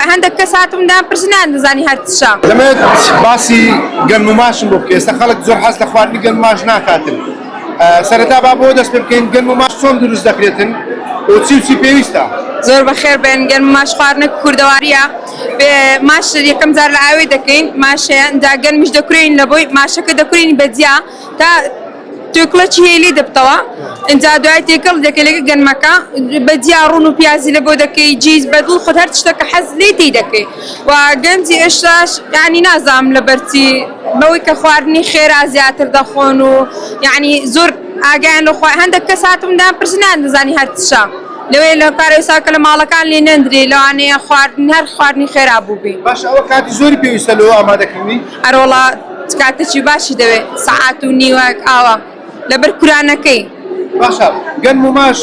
هەندەک کەس هاتم دام پرس نان دەزانی هەر چشە. دەمەوێت باسی گەنم و ماشم بۆ بکەی ئێستا خەڵک زۆر حەز لە خواردنی گەنم و ماش ناکاتن سەرەتا با بۆ دەست پێ بکەین گەنم و ماش چۆن دروست دەکرێتن و چی و چی پێویستە زۆر بەخێر بێن گەنم و ماش خواردنە کوردەواریە بێ ماش یەکەم جار لە ئاوێ دەکەین ماشەیە ئینجا گەنمیش دەکورێین لە بۆی ماشەکە دەکورێین بە جیا تا توێکڵە چی هەیە لێی دەبتەوە ئینجا دوای تێکەڵ دەکەی لەگە گەنمەکە بە جیا ڕون و پیازی لە بۆ دەکەی جیز بەدڵ خۆت هەر شتە کە حەز لێی تی دەکەی و گەنجی ئێشاش یانی نازام لە بەرچی بەوەی کە خواردنی خێرا زیاتر دەخۆن و یعنی زۆر ئاگیان لە خوا هەندێک کەس هاتم دام پرسنان دەزانی هەر چشە لەوێ لە پارێسا کە لە ماڵەکان لێ نەندری لەوانەیە خواردن هەر خواردنی خێرا بووبی باش ئەوە کاتی زۆری پێویستە لەوە ئامادەکردنی هەرۆڵات چ کاتەکی باشی دەوێ؟ سەعات و نیوەک ئاوا لەبەر کورا نەکەی. باشە گەنم و ماش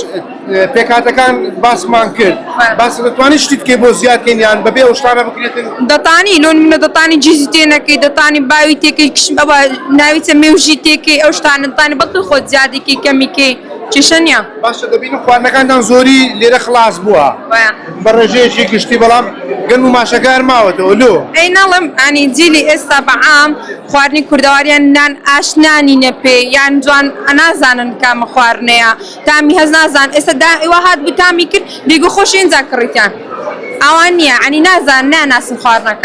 پێکهاتەکان باسمان کرد باسە دەتوانی شتی بکەی بۆ زیاد کەین یان بەبێ ئەو شتانە بکرێتن؟ دەتانی لۆ نمونە دەتانی جیزی تێ نەکەی دەتانی باوی تێ کەی کشم ئەوە ناوی چە مێوژی تێ کەی ئەو شتانە دەتانی بەڵکە خۆت زیادی کەی کەمی کەی کێشە نیە. باشە دەبینم خواردنەکانتان زۆری لێرە خڵاس بووە. بە ڕێژەیەکی گشتی بەڵام گەنم و ماشەکەیان ماوەتەوە لۆ. ئەی نەڵێم ئانی جیلی ئێستا بە عام خواردنی کوردەواریان نان ئاشنا نینە پێی یان جوان نازانن کامە خواردنەیە تامی هەست نازان ئێستا دا وا هات بوو تامی کرد بیگو خۆشی ئینجا کڕیتیان ئاوا نیە ئانی نازان ناناسن خواردنەکان.